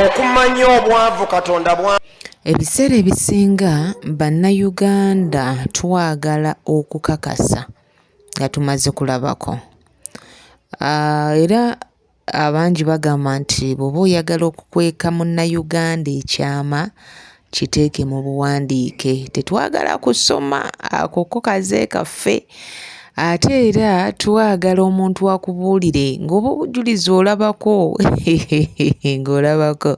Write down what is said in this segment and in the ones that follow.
okumanya obwavu katonda bwa ebiseera ebisinga bannayuganda twagala okukakasa nga tumaze kulabako ah, era abangi bagamba nti bw'oba oyagala okukweka munnayuganda ekyama kiteeke mu buwandiike tetwagala kusoma ako ko kaze kaffe ate era twagala omuntu akubuulire ng'oba obujulizi olabako ng'olabako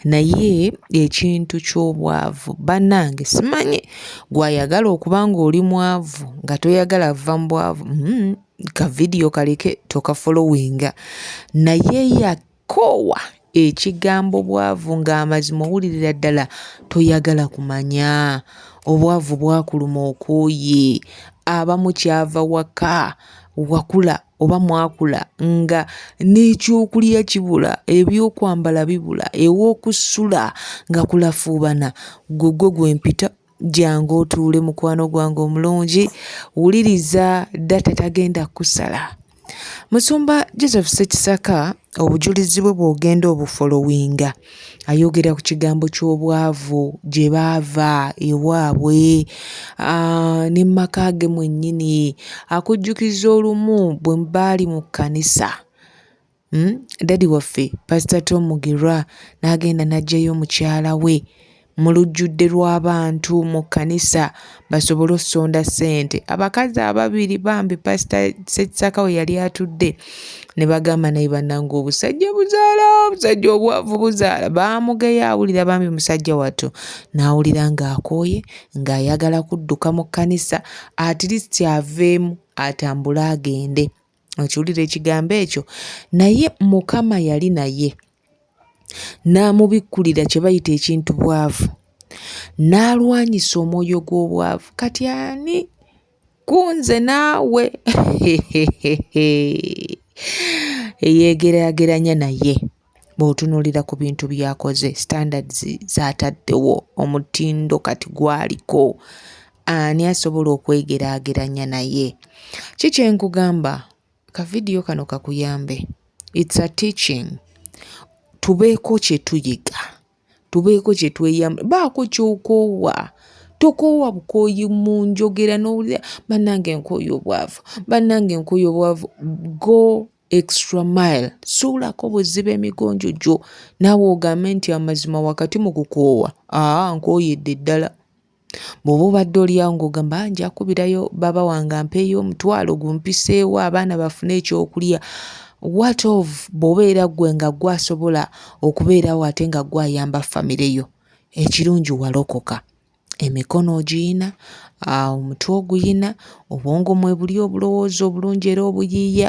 naye ekintu ky'obwavu bannange simanyi gwayagala okuba ng'oli mwavu nga toyagala vva mu bwavu hmm, ka vidiyo kaleke tokafolowinga naye ya Koowa ekigambo bwavu ng'amazima owulirira ddala toyagala kumanya. Obwavu bwakuluma okooye. Abamu kyava waka wakula oba mwakula nga n'ekyokulya kibula, ebyokwambala bibula, ew'okusula nga kulafuubana. Gugwe gwe mpita Jangu otuule mukwano gwange omulungi, wuliriza data tagenda kusala. Musumba Joseph Ssekisaka obujulizi bwe bw'ogenda obufolowinga ayogera ku kigambo ky'obwavu gye baava ewaabwe ah, ne mu maka ge mwennyini akujjukiza olumu bwe baali mu kkanisa Hmm? Daddy waffe Pastor Tom Mugirwa n'agenda n'aggyayo mukyala we mu lujjudde lw'abantu mu kkanisa basobole okusonda ssente abakazi ababiri bambi pasita ssekisaka we yali atudde ne bagamba naye bannange obusajja buzaala obusajja obwavu buzaala baamugeya awulira bambi musajja wattu n'awulira ng'akooye ng'ayagala kudduka mu kkanisa atirisiti aveemu atambule agende okiwulira ekigambo ekyo naye mukama yali naye n'amubikkulira kye bayita ekintu bwavu n'alwanyisa omwoyo gw'obwavu kati ani kunze naawe eyeegeraageranya naye bw'otunuulira ku bintu by'akoze, standards z'ataddewo, omutindo kati gw'aliko, ani asobola okwegeraageranya naye? Ki kye nkugamba, akavidiyo kano kakuyambe. It's a teaching. Tubeeko kye tuyiga, tubeeko kye tweyamba, baako ky'okoowa. tokoowa bukooyi mu njogera n'owulira bannange nkooye obwavu bannange nkooye obwavu go extra mile suulako buziba emigonjo gyo naawe ogambe nti amazima wakati mu kukoowa aa nkooyedde ddala bw'oba obadde olyawo ng'ogamba ah, nja kubirayo baba wange ampeeyo omutwalo gumpiseewo abaana bafune ekyokulya wat of bw'oba era ggwe nga ggwe asobola okubeerawo ate nga ggwe ayamba famire yo ekirungi walokoka Emikono ogiyina, omutwe oguyina, obwongo mwebuli obulowooza obulungi era obuyiiya,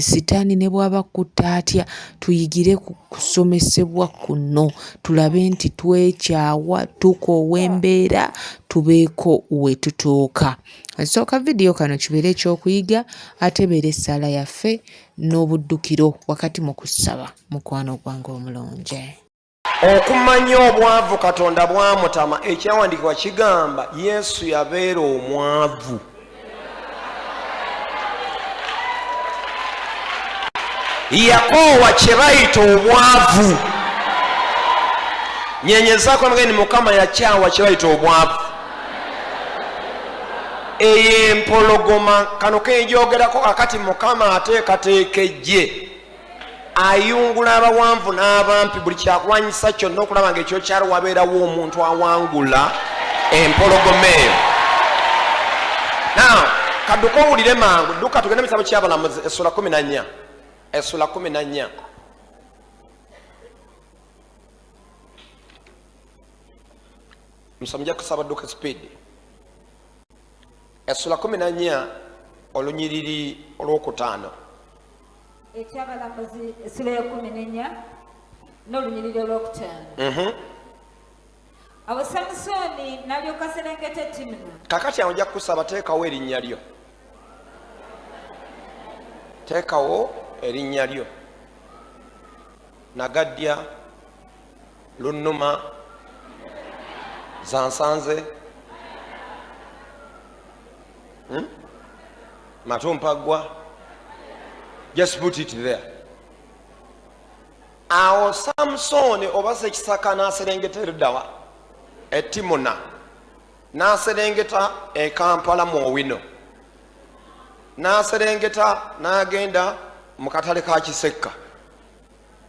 sitaani ne bw'aba akutte atya tuyigire ku kusomesebwa kuno tulabe nti twekyawa, tukoowa embeera tubeeko we tutuuka. So ka vidiyo kano kibeere ekyokuyiga ate ebeere essaala yaffe n'obuddukiro wakati mu kusaba mukwano gwange omulungi. okumanya obwavu katonda bwamutama ekyawandikibwa kigamba yesu yabeera omwavu yakoowa kyebayita obwavu nyenyezako mgeni mukama yakyawa kyebayita obwavu eyo empologoma kano kenjogerako kakati mukama ateekateeka ejje ayungula abawanvu n'abampi buli kyakulwanyisa kyonna okulaba nga ekyokyalo wabeerawo omuntu awangula empologoma eyo kaduka owulire mangu duka tugende mukitabo kyabalamuzi esula kumi nanya esula kumi nanya musa muja kusaba duka speed esula kumi nanya olunyiriri olwokutaano ekyabalamuzi essula ey'ekkumi n'ennya n'olunyiriri olwokutaano mhm. awo samusooni n'alyoka serengeta etimuna kakati awo nja kukusaba teekawo erinnya lyo teekawo erinnya lyo nagadya lunnuma zansanze hmm? matompaggwa just put it there awo samusooni oba sekisaka n'aserengeta erudawa etimuna n'aserengeta ekampala mu owino n'aserengeta n'agenda mu katale ka kisekka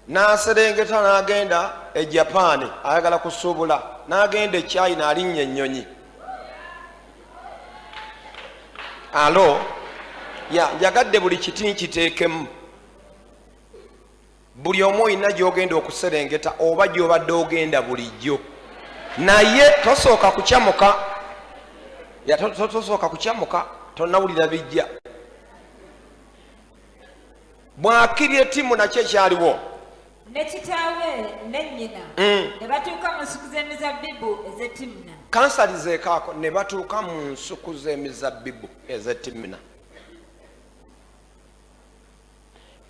n'aserengeta n'agenda e japaani ayagala kusuubula n'agenda e china alinnya ennyonyi alo ya njagadde buli kiti nkiteekemu buli omu olina gy'ogenda okuserengeta oba gy'obadde ogenda bulijjo naye tosooka kukyamuka tosooka kukyamuka tonawulira bijja bwakirye timu nakyo ekyaliwo ne kitaawe ne nnyina mm. ne batuuka mu nsuku z'emizabbibu ez'e timuna kansali zeekaako ne batuuka mu nsuku z'emizabbibu ez'e timuna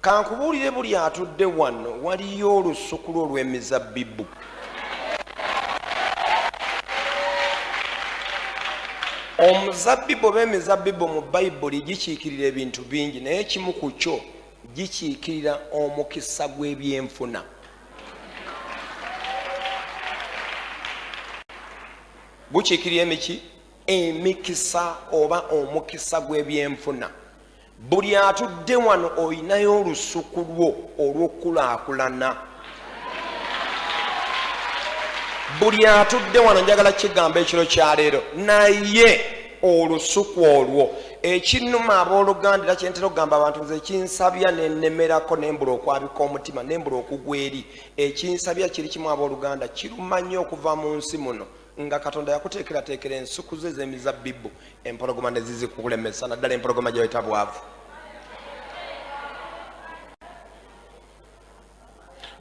kankubuulire buli atudde wano waliyo olusuku lwo olw'emizabbibu omuzabbibu oba emizabbibu mu bayibuli gikiikirira ebintu bingi naye kimu ku kyo gikiikirira omukisa gw'ebyenfuna gukiikirira emiki emikisa oba omukisa gw'ebyenfuna Buli atudde wano olinayo olusuku lwo olw'okukulaakulana. Buli atudde wano njagala kigamba ekiro kya leero, naye olusuku olwo ekinuma abooluganda era kyentera okugamba abantu nze ekinsabya nenemerako nembula okwabika omutima nembula okugwa eri ekinsabya kiri kimu abooluganda kiruma nnyo okuva mu nsi muno nga katonda yakuteekerateekera ensuku ze ez'emizabbibu empologoma ne zizikukulemesa naddala empologoma gyeweta bwavu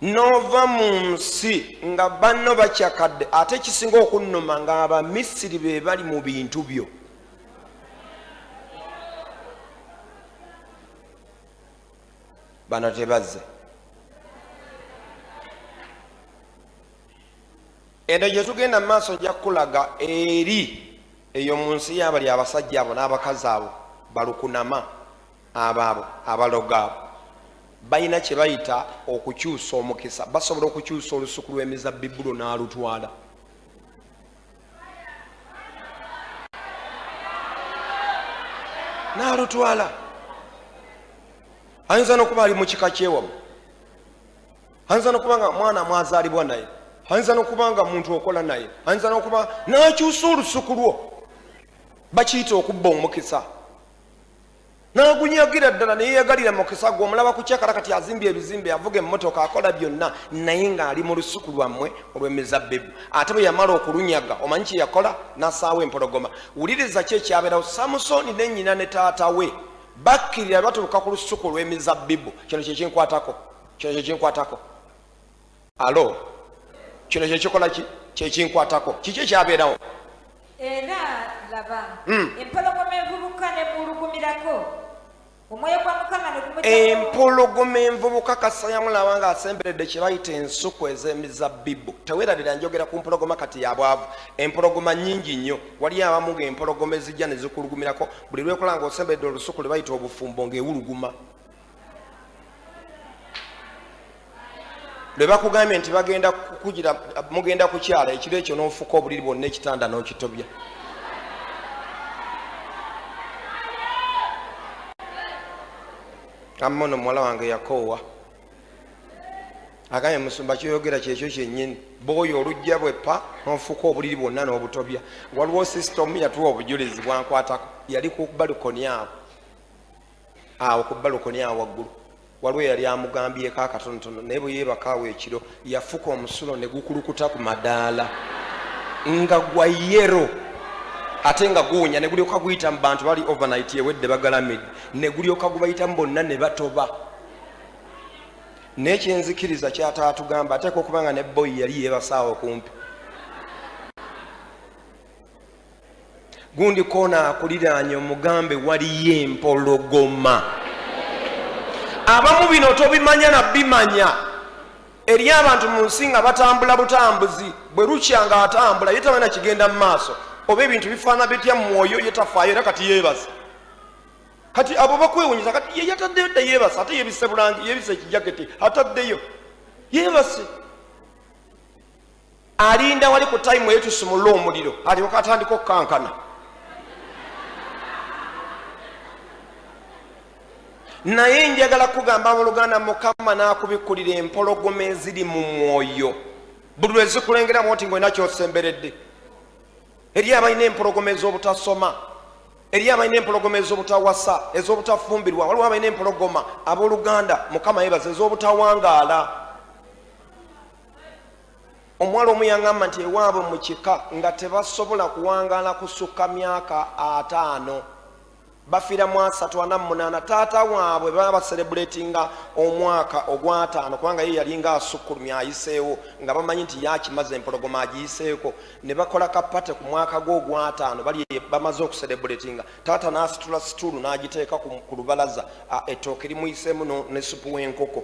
n'ova mu nsi nga banno bakyakadde ate ekisinga okunnuma nga abamisiri be bali mu bintu byo bano tebazze eno gye tugenda mu maaso nja kukulaga eri eyo mu nsi y'abali abasajja abo n'abakazi abo balukunama abo abo abaloga abo balina kye bayita okukyusa omukisa basobola okukyusa olusuku lw'emizabbibulo n'alutwala n'alutwala ayinza n'okuba ali mu kika kyewamu ayinza nokuba nga mwana mwazaalibwa naye ayinza nokuba nga muntu okola naye ayinza nokuba nakyusa olusuku lwo bakiyita okubba omukisa nagunyagira ddala neyeyagalira mukisa gwe omulaba kukyakala kati azimbye ebizimbe avuga emotoka akola byonna naye ngaali mu lusuku lwammwe olwemizabbibu ate bwe yamala okulunyaga omanyi kyeyakola nasaawo empologoma wuliriza ki ekyabeerawo samusoni ne nyina ne taata we bakkirira batuuka ku lusuku olwemizabbibu kino kyekyenkwatako kino kyekinkwatako alo kino kyekikola ki kyekinkwatako kiki ekyabeerawo era laba hmm. empologoma envubuka nemulugumirako omwoyo gwa mukama empologoma envubuka kasayamulaba nga asemberedde kyebayita ensuku ez'emizabbibu tewerabira njogera ku mpologoma kati yabwavu empologoma nyingi nnyo wali abamu nga empologoma ezijja nezikulugumirako buli lwekola nga osemberedde olusuku lwebayita obufumbo ngaewuluguma lwe bakugambye nti bagenda kukugira mugenda kukyala ekiro ekyo n'ofuka obuliri bwonna ekitanda n'okitobya amma ono muwala wange yakoowa agambye musumba kyoyogera kyekyo kyenyini booyo olujja bwepa nonfuuka obuliri bwonna n'obutobya waliwo sisitomu yatuwa obujulizi bwankwatako yali ku balikoni abo awo ku balukoni awo waggulu waliwo eyali amugambyeko akatonotono naye bwe yeebakaawo ekiro yafuka omusulo ne gukulukuta ku madaala nga gwa yero ate nga guwunya ne gulyoka guyita mu bantu bali overnight ewedde bagalamidde ne gulyoka gubayitamu bonna ne batoba naye kyenzikiriza kyataatugamba ateeka okuba nga ne boyi yali yeebasaawo kumpi gundi koona akuliraanye omugambe waliyo empologoma abamu bino tobimanya nabimanya eri abantu mu nsi nga batambula butambuzi bwe lukya nga atambula ye tabana kigenda mu maaso oba ebintu bifaana bitya mumwoyo ye tafaayo era kati yeebasa kati abo bakwewunyisa kati ye yataddeyo dda yeebasa ate yebise bulangi yebise ekijaketi ataddeyo yeebase alinda wali ku tayimu eyo tusumulule omuliro alyoka atandika okukankana naye njagala kugamba abooluganda mukama n'akubikkulira empologoma eziri mu mwoyo buli lwe zikulengeramu nti ngaolina kyosemberedde eri abalina empologoma ez'obutasoma eri abalina empologoma ez'obutawasa ez'obutafumbirwa waliwo abalina empologoma abooluganda mukama yebaza ez'obutawangaala omuwala omu yangamba nti ewaabwe mu kika nga tebasobola kuwangaala kusukka myaka ataano bafiira mu asatu ana mu munaana taata waabwe baba baserebuletinga omwaka ogwataano kubanga ye yalinga asukkulumya ayiseewo nga bamanyi nti yakimaze empologoma agiyiseeko ne bakola kapate ku mwaka gwe ogwataano bali bamaze okuserebuletinga taata n'asitula situulu n'agiteeka ku lubalaza ettooke limuyiseemu ne supu w'enkoko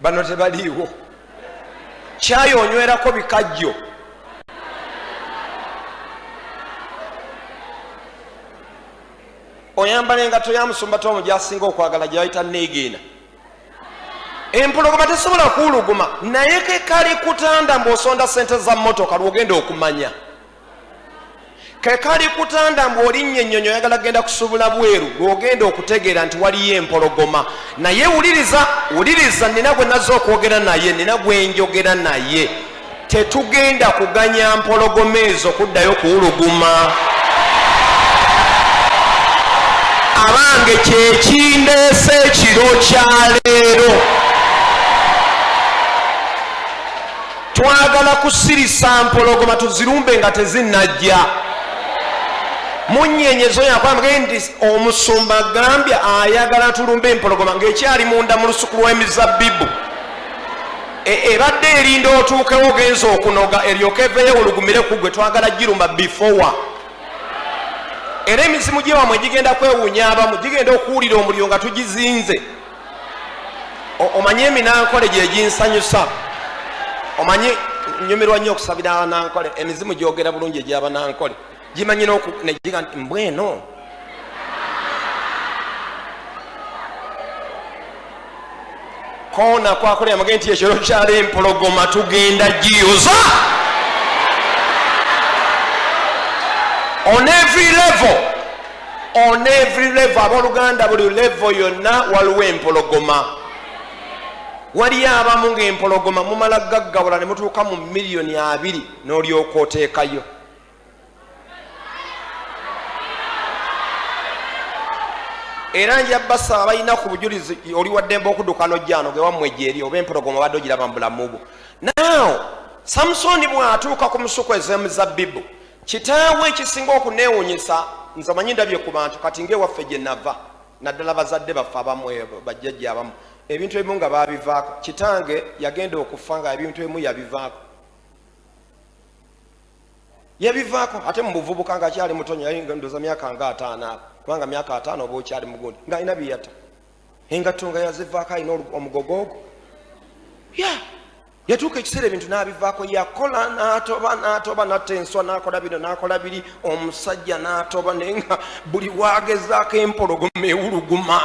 bano tebaliiwo kyayi onywerako bikajjo oyambala engato ya musumba tomu gyasinga okwagala gyeyayita neegeena empologoma tesobola kuwuluguma naye kekali kutanda mbu osonda sente za motoka lwogenda okumanya kekali kutanda mbu olinnya ennyonyi oyagala genda kusubula bweru lwogenda okutegeera nti waliyo empologoma naye wuliriza wuliriza nina gwe nazze okwogera naye nina gwenjogera naye tetugenda kuganya mpologoma ezo kuddayo kuwuluguma abange kyekindeese ekiro kyaleero twagala kusirisa mpologoma tuzirumbe nga tezinajja munyenyezo yakwambage nti omusumba gambya ayagala tulumbe empologoma ngaekyali munda mu lusuku lw'emizabbibu e, ebadde erinda otuukewo genza okunoga eryoka eveyo olugumire ku gwe twagala girumba bifowa era emizimu gyewamwe gigenda kwewunya abamu gigenda okuwulira omuliro nga tugizinze omanyi eminankole gyeginsanyusa omanyi nyumirwa nnyo okusabira abanankole emizimu gyogera bulungi egyabanankole gimanyi negiga nti mbweno kona kwakola yamage nti ekiro kyali empologoma tugenda giyoza on every level on every level aboluganda buli level yonna waliwo empologoma waliyo abamu ngaempologoma mumala gaggawula ne mutuuka mu miliyoni abiri n'olyoka oteekayo era nja basaba balina ku bujulizi oli waddembe okuduka nojjano gewammwe gyeri oba empologoma obadde ogiraba mu bulamu bwo naaw samusooni bw'atuuka ku musuku ez'emizabbibu Kitaawe ekisinga okuneewunyisa nze manyi ndabye ku bantu kati ng'ewaffe gye nava naddala bazadde baffe abamu eh, bajjajja abamu ebintu ebimu nga baabivaako kitange yagenda okufa nga ebintu ebimu yabivaako yabivaako ate mu buvubuka nga akyali mutonyo yalindoza myaka nga ataano abo kubanga myaka ataano oba okyali mugundi nga alina biyata engatto nga yazivaako alina omugogo ogwo ya yatuuka ekiseera ebintu n'abivaako yakola n'atoba n'atoba natta enswa n'akola bino n'akola biri omusajja n'atoba naye nga buli waagezaako empologoma ewuluguma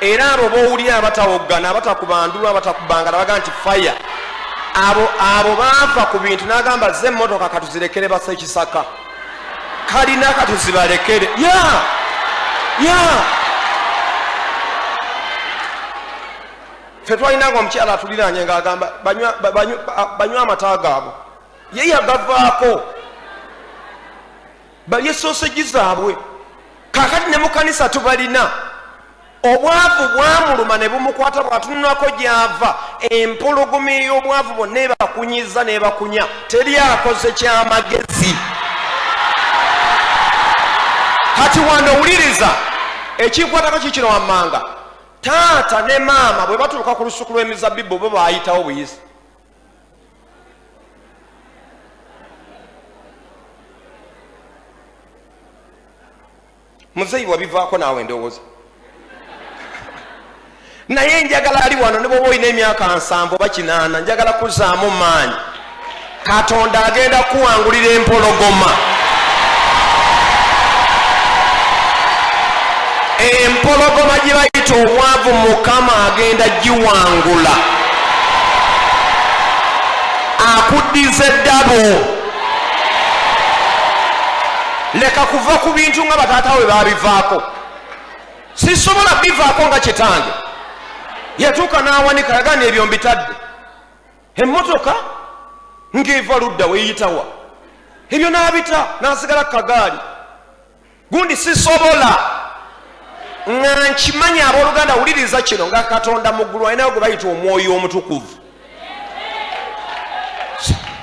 era abo bowulira abatawoggana abatakubandulu abatakubangala baga nti faya abo abo baava ku bintu n'agamba ze emmotoka katuzirekere basa ekisaka kalina katuzibalekere ya yeah. ya yeah. fe twalinanga omukyala atuliranye ngaagamba banywa amata gaabwe ye yagavaako balye soseji zaabwe kakati ne mukanisa tubalina obwavu bwamuluma ne bumukwata bw'atunulako gy'ava empologoma ey'obwavu bonna ebakunyiza n'ebakunya teri akoze ky'amagezi kati wano owuliriza ekikwatako kikino wammanga taata ne maama bwe batuuka ku lusuku lw'emizabibbu bo baayitawo buyisi muzeyi wabivaako naawe ndowooza naye njagala ali wano ne bwoba olina emyaka nsanvu oba kinaana njagala kuzaamu maanyi katonda agenda kuwangulira empologoma empologoma gye bayita omwavu mukama agenda giwangula akuddiza eddabo leka kuva ku bintu nga bataata we babivaako sisobola bivaako nga kitange yatuuka n'awanika yagana ebyo mbitadde emmotoka ng'eva ludda weyitawa ebyo n'abita n'asigala ku kagaali gundi sisobola nga nkimanyi abooluganda wuliriza kino nga katonda mu ggulu alinayo gwe bayita omwoyo omutukuvu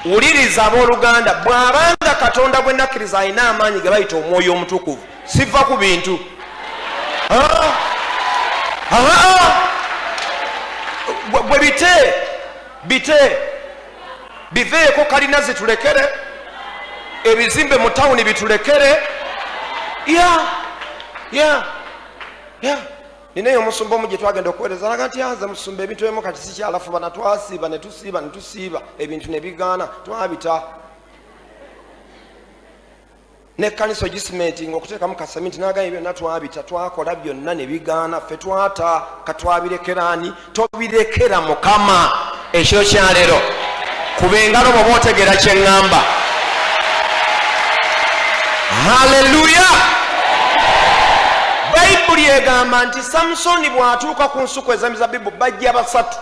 wuliriza abooluganda bw'abanga katonda gwe nakkiriza alina amaanyi ge bayita omwoyo omutukuvu siva ku bintu gwe bite bite biveeko kalina zitulekere ebizimbe mu tawuni bitulekere ya ya ya ninaye omusumba omu gye twagenda okuweereza alaga nti anze musumba ebintu ebimu kati sikyalafuba na twasiiba ne tusiiba ne tusiiba ebintu ne bigaana twabita nekkanisa ogisimenti nga okuteekamu kasaminti nagambye byonna twabita twakola byonna ne bigaana ffe twata katwabirekeraani tobirekera mukama ekiro kyaleero kuba engalo bwoba otegera kyeŋŋamba haleluya bayibuli egamba nti samusoni bw'atuuka ku nsuku ezamizabibu bajja basatu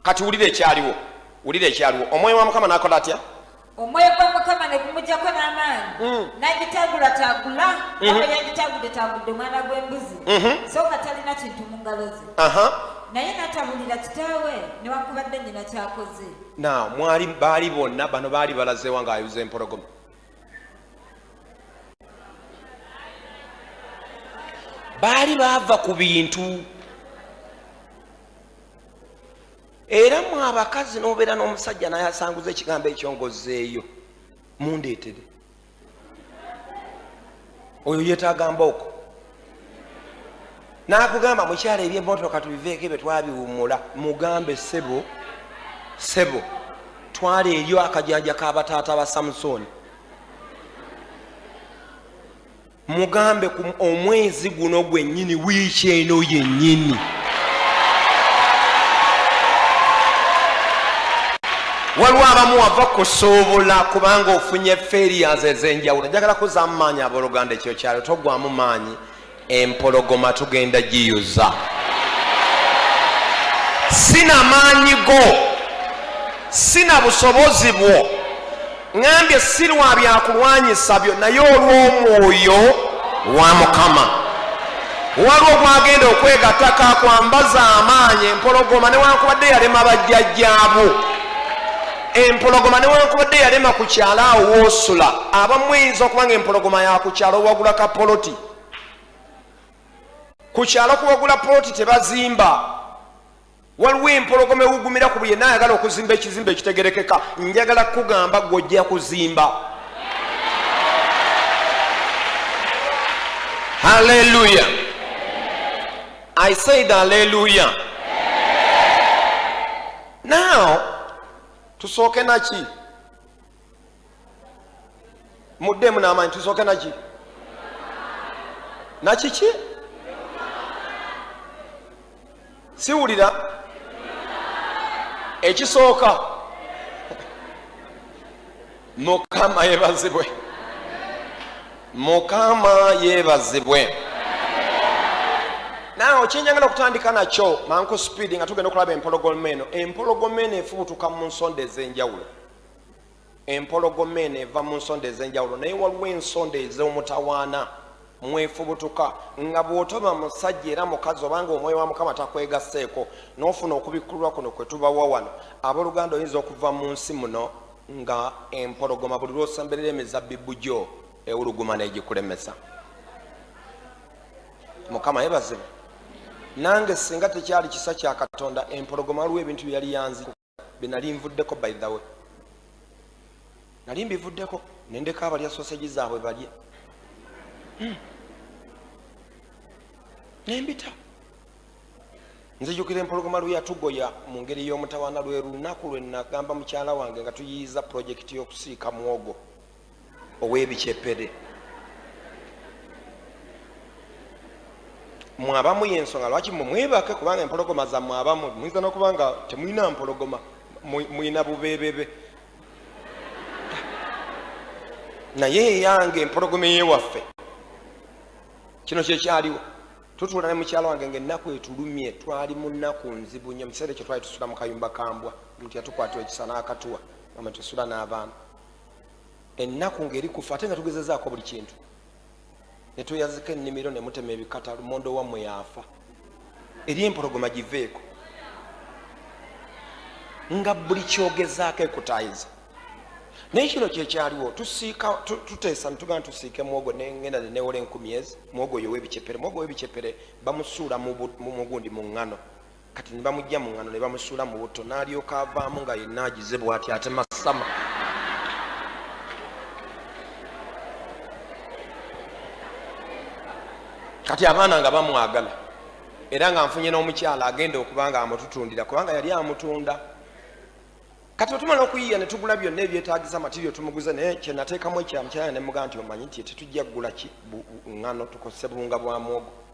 kati wulira ekyaliwo wulira ekyaliwo omwoyo wa mukama nakola atya omwoyo gwa mukama ne gumujjako n'amaanyi mm. n'agitaagulataagula mm-hmm. aba yagitaagudetaagudde omwana gw'embuzi mm-hmm. so nga talina kintu mu ngalo ze naye natabulira kitaawe newakubadde nyina kyakoze na mwali baali bonna bano baali balazeewa nga ayuza empologoma baali baava ku bintu era mu abakazi nobeera n'omusajja naye asanguza ekigambo ekyo ngozeeyo mundeetere oyo yetaaga mbooko nakugamba mukyalo ebyemotoka tubiveeko ebyo twabiwumula mugambe sebo sebo twala eryo akajanja kabataata ba samusoni mugambe ku omwezi guno gwennyini wiiki eno yennyini waliwo abamu wava kusoobola kubanga ofunye ferias ezenjawulo njagala kuzamu maanyi aboluganda ekyo kyalo togwamu maanyi empologoma tugenda giyuza sina maanyi go sina busobozi bwo ŋambye si lwa byakulwanyisa byo naye olw'omwoyo wa mukama waliwo gwagenda okwegataka kwambaza amaanyi empologoma newankubadde yalema bajjajjaabu empologoma newankubadde yalema ku kyalo awo woosula abamu eyinza okuba nga empologoma yakukyalo owagula ka poloti ku kyalo kuwagula poloti tebazimba waliwo empologoma ewugumira ku buye nayagala okuzimba ekizimba ekitegerekeka njagala kukugamba gwojja kuzimba haleluya i said haleluya now tusooke naki muddemu n'amaanyi tusooke naki nakiki siwulira ekisooka mukama yebazibwe mukama yebazibwe nawe kyenjagala okutandika nakyo manku speedi nga tugenda okulaba empologoma eno empologoma eno efubutuka mu nsonda ez'enjawulo empologoma eno eva mu nsonda ez'enjawulo naye waliwo ensonda ez'omutawaana mwefubutuka nga bw'otoba musajja era mukazi obanga omwoyo wa mukama takwegasseeko n'ofuna okubikkulwa kuno kwe tubawa wano abooluganda oyinza okuva mu nsi muno nga empologoma buli lw'osemberera emizabbibu gyo ewuluguma n'egikulemesa mukama yebazibu nange singa tekyali kisa kya katonda empologoma waliwo ebintu bye yali yanzi benali nvuddeko by the way nali mbivuddeko nendeka abalya sosegi zaabwe balye hmm. nembita nzijukira empologoma lweyatugoya mu ngeri y'omutawaana lwe lunaku lwe nagamba mukyala wange nga tuyiyiza pulojekiti y'okusiika mwogo ow'ebikyepede mwabamu yensonga lwaki mwe mwebake kubanga empologoma za mwabamu muyinza nokuba nga temulina mpologoma mulina bubebebe naye eyange empologoma eyewaffe kino kyekyaliwo tutuula ne mukyalo wange nga ennaku etulumye twali mu nnaku nzibu nyo mukiseera ekyo twali tusula mu kayumba kambwa omuntu yatukwatira ekisa n'akatuwa ama tusula n'abaana ennaku ng'eri kufa ate nga tugezezaako buli kintu ne tweyazika ennimiro ne mutema ebikata lumondo wammwe yaafa eri empologoma giveeko nga buli kyogezaako ekutaayiza naye kino kyekyaliwo tusiika tuteesa netugamba tusiike mwogo nengenda nenewola enkumi ezi mwogo oyo webicepere mwogo webicepere bamusuula mugundi mu ŋŋano kati ne bamujja mu ŋŋano ne bamusuula mu butto n'alyoka avaamu nga yenna agize bw'ati ate masama kati abaana nga bamwagala era nga nfunye n'omukyala agenda okuba nga amututundira kubanga yali amutunda kati otumala okuyiya ne tugula byonna ebyetagisa matirio tumuguze naye kyenateekamu ekyamukyala ne mugaa nti omanyi nti tetujja kugula ki ŋŋano tukozese buwunga bwa mwogo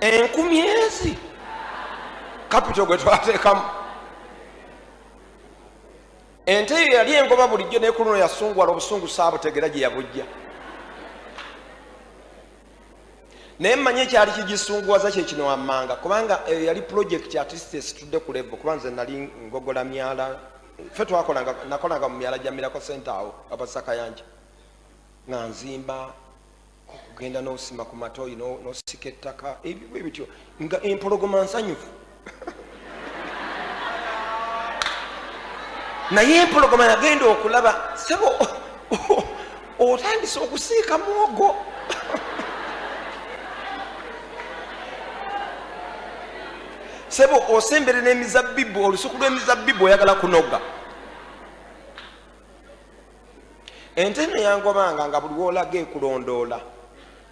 enkumi ezi kapito gwe twateekamu ente eyo yali engoba bulijjo naye ku luno yasunguwala obusungu saabutegera gye yabujja naye mmanyi ekyali kigisunguwaza kye kino wammanga kubanga eyo yali pulojekiti atisite esitudde ku levo kuba nze nali ngogola myala fe twakolanga nakolanga mu myala gya mirako sente awo abasa kayanja nga nzimba kugenda nosima ku matoyi nosika ettaka ebibu ebityo nga empologoma nsanyufu naye empologoma yagenda okulaba sebo otandise okusiika muwogo sebo osembere n'emizabbibu olusuku lw'emizabbibu oyagala kunoga ente eno yangobanga nga buli wolaga ekulondoola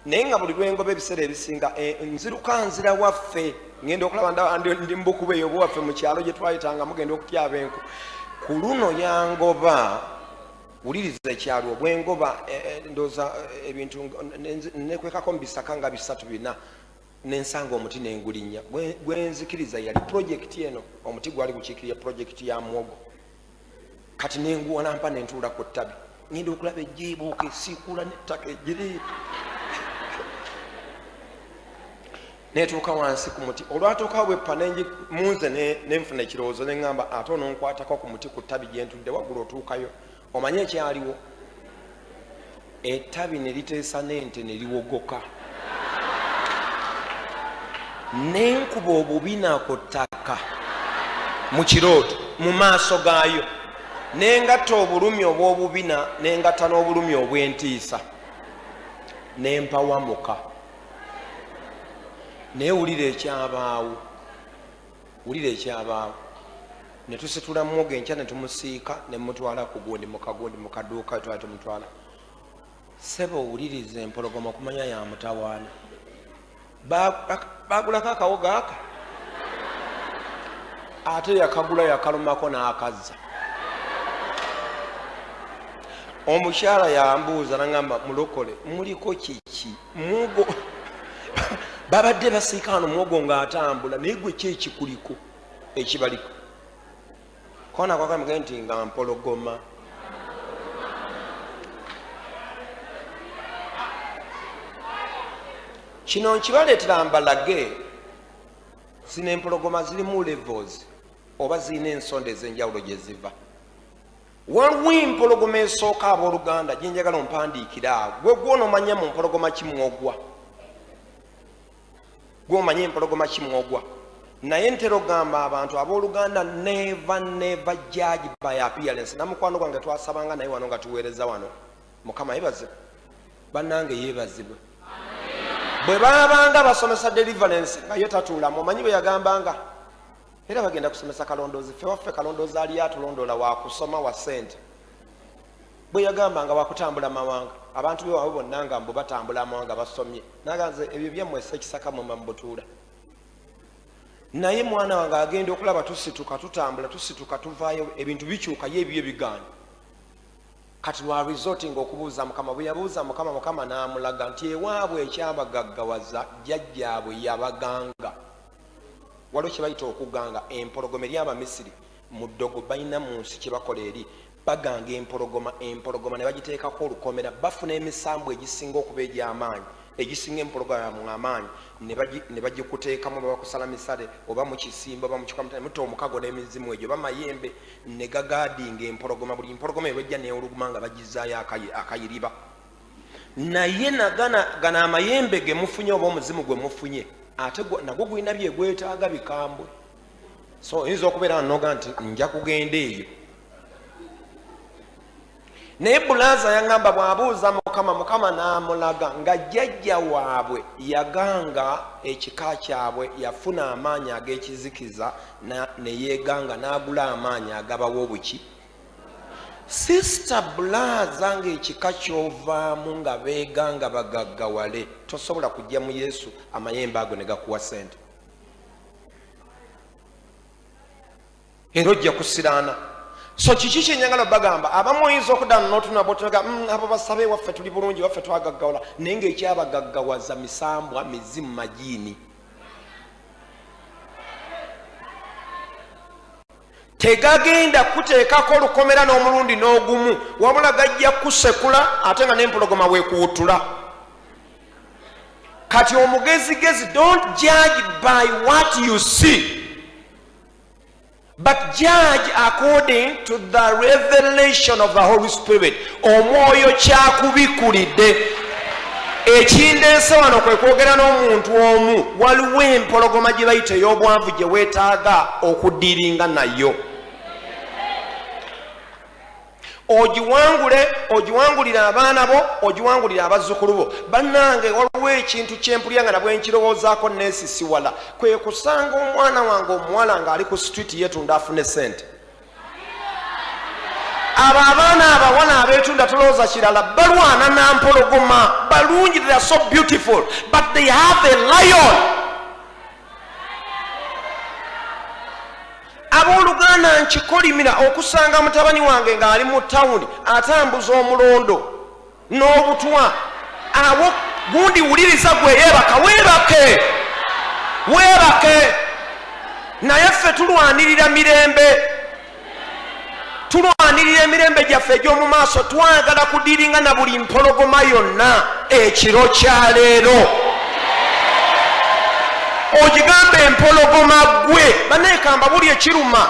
naye nga buli lwengoba ebiseera ebisinga e, nziruka nzira waffe ngenda okulaba ndi mubukuba eyo buwaffe mu kyalo gye twayitanga mugenda okutyaba enku ku luno yangoba wuliriza ekyalo bwengoba eh, eh, ndoza eh, ebintu nekwekako mubisaka nga bisatu bina nensanga omuti nengulinya gwenzikiriza yali projekiti eno omuti gwali gukiikirira projekiti ya mwogo kati nenguwanampa nentuula ku ttabi ngenda okulaba ejibuuka esiikuula nettaka ejiri netuuka wansi ku muti olwatuukawo bweppa munze nenfuna ekirowoozo neŋamba ate ononkwatako ku muti ku ttabi gyentudde waggulu otuukayo omanye ekyaliwo ettabi ne liteesa n'ente ne liwogoka nenkuba obubina ku ttaka mu kirooto mu maaso gaayo nengatta obulumi obw'obubina nengatta n'obulumi obw'entiisa nempawamuka naye wulira ekyabaawo wulira ekyabaawo netusitula mwoga enkya netumusiika nemutwala kugundi mukagundi mukaduuka twala tumutwala seba owuliriza empologoma okumanya yamutawaana bagulako akawoga aka ate yakagula yakalumako n'akazza omukyala yambuuza nagamba mulokole muliko kiki muwogo babadde basiika wano muwogo ng'atambula naye gwe ki ekikuliko ekibaliko kona kwakamge nti nga mpologoma kino nkibaleetera mbalage zino empologoma zirimu levels oba zirina ensonda ez'enjawulo gye ziva Waliwo empologoma esooka abooluganda gye njagala ompandiikira awo gwe gwonomanya mu mpologoma kimwogwa gwomanya empologoma kimwogwa naye ntera ogamba abantu abooluganda neva neva judge by appearance namukwano gwange twasabanga naye wano nga tuweereza wano mukama yebazibwe bannange yebazibwe bwe baabanga basomesa deliverance nga ye tatuulamu omanyi bwe yagambanga era bagenda kusomesa kalondoozi ffe waffe kalondoozi aliyo atulondoola wakusoma wa sente bwe yagamba nga wakutambula mawanga abantu bewaabwe bonna nga mbu batambula amawanga basomye naganze ebyo byammwe sekisaka mwema mubutuula naye mwana wange agenda okulaba tusituka tutambula tusituka tuvaayo ebintu bikyuka ye ebibyo bigaana kati lwa resorting okubuuza mukama bwe yabuuza mukama mukama n'amulaga nti ewaabwe ekyabagaggawaza jjajjaabwe yabaganga waliwo kyebayita okuganga empologoma eri abamisiri mu ddogo balina mu nsi kyebakola eri baganga empologoma empologoma ne bagiteekako olukomera bafuna emisambwa egisinga okuba egy'amaanyi egisinga empologoma mu amaanyi ne bagikuteekamu oba bakusala misale oba mukisimba oba mukikwamutane mutta omukago n'emizimu egyo oba mayembe ne gagaadinga empologoma buli mpologoma ebajja neewuluguma nga bagizaayo akayiriba naye nagana gana amayembe gemufunye oba omuzimu gwe mufunye ate nagwo gulina byegwetaaga bikambwe so oyinza okubeera noga nti nja kugenda eyo naye bulaza yagamba bwabuuza mukama mukama namulaga nga jjajja waabwe yaganga ekika kyabwe yafuna amaanyi ag'ekizikiza neyeganga n'agula amaanyi agabawo obuki Sister bulaza nga ekika kyovaamu nga beega nga bagaggawale tosobola kujja mu yesu amayembe ago ne gakuwa sente era ojja kusiraana so kiki kyenyagala bagamba abamu oyinza okudana notunabotnaga mm, abo basabe waffe tuli bulungi waffe twagaggawala naye nga ekyabagaggawaza misambwa mizimu majiini tegagenda kuteekako lukomera n'omulundi n'ogumu wabula gajja kusekula ate nga n'empologoma weekuwutula kati omugezigezi don't judge by what you see but judge according to the revelation of the holy spirit omwoyo kyakubikulidde ekindeese wano kwe kwogera n'omuntu omu waliwo empologoma gye bayita ey'obwanvu gye weetaaga okudiringa nayo ogiwangule ogiwangulire abaana bo ogiwangulire abazzukulu bo bannange waliwo ekintu kyempulya nga nabwe nkirowoozaako neesisiwala kwe kusanga omwana wange omuwala ng'ali ku situiti yeetunda afune ssente abo abaana abawala abetunda tulowooza kirala balwana nampologoma balungi they are so beautiful but they have a lion abooluganda nkikolimira okusanga mutabani wange ng'ali mu tawuni atambuza omulondo n'obutwa abo gundi wuliriza gwe yeebaka weebake weebake naye ffe tulwanirira mirembe tulwanirira emirembe gyaffe egy'omu maaso twagala kudiringa na buli mpologoma yonna ekiro kya leero ogigamba empologoma gwe banaekamba buli ekiruma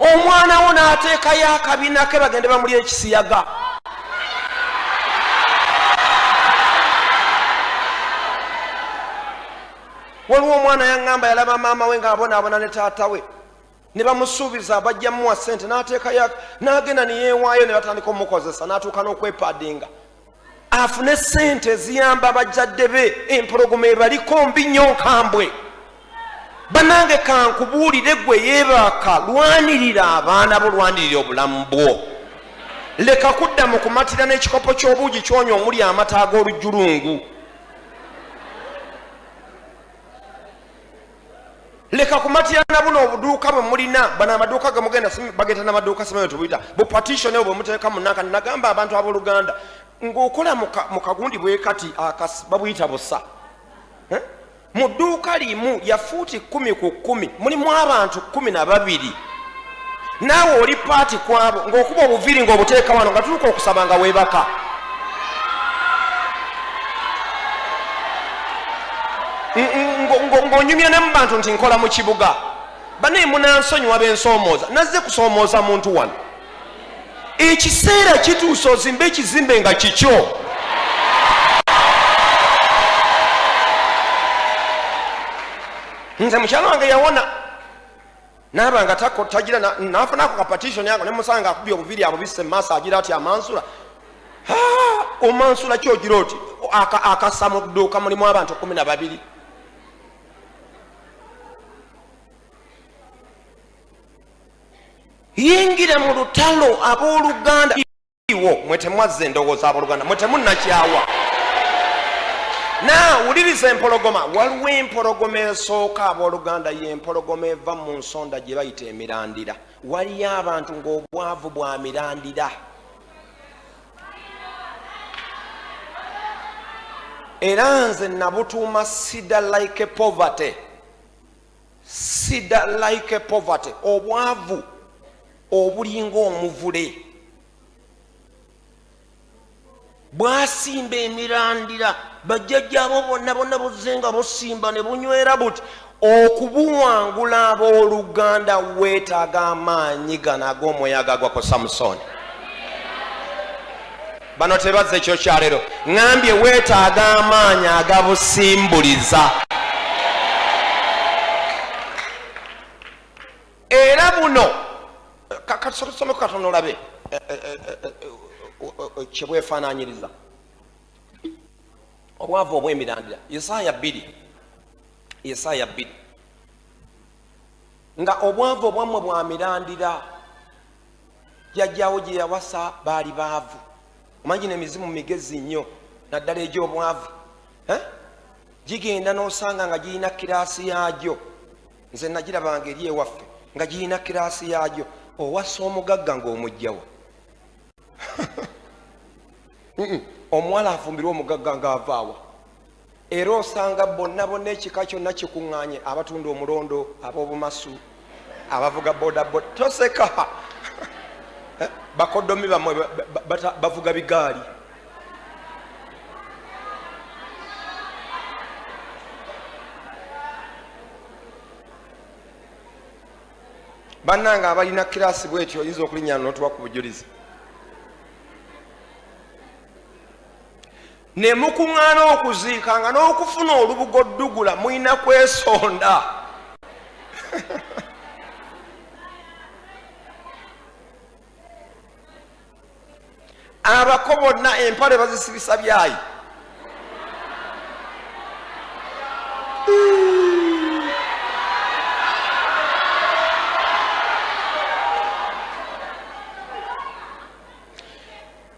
omwana wo n'ateekayo akabina ke bagende bamuli ekisiyaga waliwo omwana yaŋŋamba yalaba maama we ng'abonaabona ne taata we ne bamusuubiza bajja muwa ssente n'ateekayo n'agenda ne yeewaayo ne batandika omukozesa n'atuuka n'okwepaadinga afune sente eziyamba abajjadde be empologoma ebaliko mbi nnyo nkambwe banange kankubuulire gwe yebaaka lwanirira abaana bo lwanirira obulamu bwo leka kudda mu kumatira n'ekikopo ky'obuugi kyonya omuli amata ag'olujjulungu leka kumatira na buno obuduuka bwe mulina bano amaduuka gemugenda bageta namaduuka simanyo tubuyita bupatition eyo bwemuteeka munanka nagamba abantu abooluganda ng'okola mu kagundi bwe kati akasi babuyita busa eh? mu dduuka limu yafuuti kkumi ku kkumi mulimu abantu kkumi na babiri naawe oli paati kwabo ng'okuba obuviiri ng'obuteeka wano nga tuluka okusaba nga weebaka ng'onyumya ne mu bantu nti nkola mu kibuga banaye munansonyiwa bensoomooza nazze kusoomooza muntu wano ekiseera kituuse ozimbe ekizimbe nga kikyo nze mukyalo wange yawona naaba nga tagira nafunaako ka patitioni ako nemusanga akubye obuviri abubise mumaaso agira ati amansula omansula ki ogira oti akasa mu dduuka mulimu abantu kumi na babiri yingira mu lutalo ab'oluganda wo mwe temwazza endowooza aboluganda mwe temunnakyawa na wuliriza empologoma waliwo empologoma esooka aboluganda yempologoma eva mu nsonda gye bayita emirandira waliyo abantu ng'obwavu bwa mirandira era nze nabutuuma sida like poverty sida like poverty obwavu obulinga omuvule bwasimba emirandira bajjajjaabo bonna bonna buzze nga busimba ne bunywera buti okubuwangula abooluganda weetaaga amaanyi gano ag'omuyaga gwa ku samusooni bano tebazze ekyokyalero ŋambye weetaaga amaanyi agabusimbuliza era buno katusome kukatono olabe eh, eh, eh, kyebwefaananyiriza obwavu obwemirandira isaaya bbiri isaaya bbiri nga obwavu obwammwe bwamirandira jjajjaawo gye yawasa baali baavu omanyi no emizimu migezi nnyo naddala egy'obwavu eh? gigenda n'osanga nga girina kiraasi yaagyo nze nagirabanga eri ewaffe nga girina kiraasi yaagyo owasa omugagga ng'omugjawo omuwala afumbirwa omugagga ng'avaawa era osanga bonna bonna ekika kyonna kikuŋŋaanye abatunda omulondo ab'obumasu abavuga bodaboda toseka eh, bakodomi bamwe bavuga bigaali bannange abalina kiraasi bwetyo oyinza okulinyana notuwa ku bujulizi ne mukuŋŋaana okuziika nga n'okufuna olubugo ddugula mulina kwesonda abako bonna empale bazisibisa byayi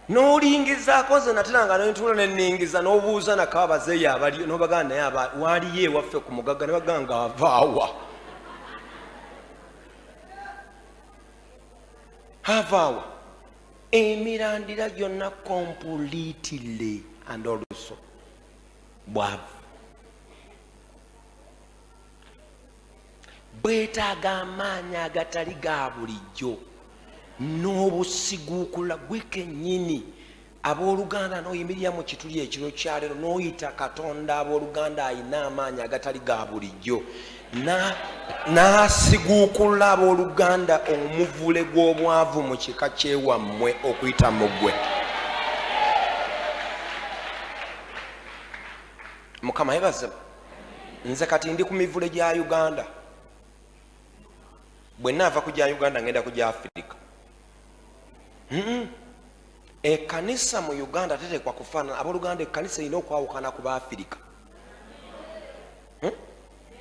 n'olingizaako ze natera nga nentuula neningiza n'obuuza nako abazeeyo abaliyo n'obagana naye aba waaliyo ewaffe ku mugagga ne bagamba nga avaawa avaawa emirandira gyonna completely and also bwavu bwetaaga amaanyi agatali ga bulijjo n'obusiguukula gwe kennyini abooluganda n'oyimirira mu kituli ekiro kyaleero n'oyita katonda abooluganda alina amaanyi agatali ga bulijjo n'asiguukulula abooluganda omuvule gw'obwavu mu kika kyewammwe okuyita mu ggwe mukama yebazemu nze kati ndi ku mivule gya uganda bwe naava ku gya uganda ngenda ku gya afirika ekanisa mu uganda tetekwa kufaanana aboluganda ekanisa erina okwawukana ku baafirika hmm?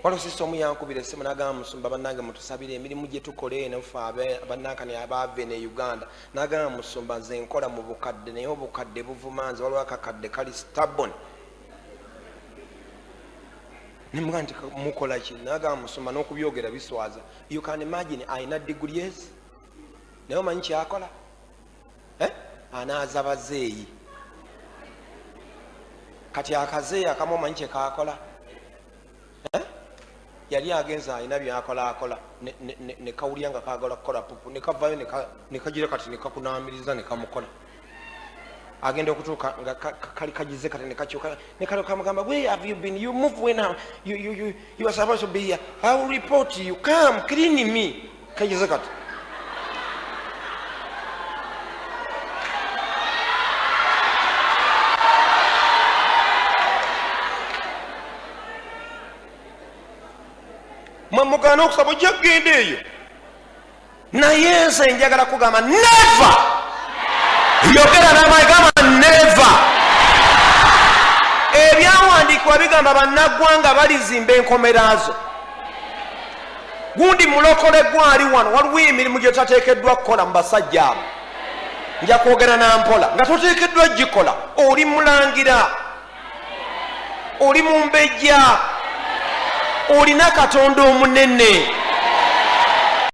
walosisa omu yankubira esimu nagamba musumba banange mutusabire emirimu gyetukola eno fe abanankani abaave ne uganda nagamba musumba nze nkola mu bukadde naye obukadde buvuma nze waliwo akakadde kali stabon nemuga nti mukola ki nagamba musoma n'okubyogera biswaza you can imagine alina degrees naye omanyi kyakola eh? anaaza bazeeyi kati akazeeyi akamu omanyi kyekakola eh? yali agenze alina byakola akola nekawulira nga kagala kukola pupu nekavayo nekagira kati nekakunamiriza nekamukola agenda okutuuka nga kali kagize kati nekakyuka nekalo kamugamba where have you been you move when you, you, you, you are supposed to be here i will report you come clean me kayize kati mwe mugaana okusaba ojja kugenda eyo naye nze njagala kugamba neva yogera namayi gamba neva ebyawandiikibwa bigamba bannaggwanga balizimba enkomeraazo gundi mulokole gwali wano waliwo emirimu gye tateekeddwa kukola mu basajja abo nja kwogera na mpola nga toteekeddwa gikola oli mulangira oli mumbejja olina katonda omunene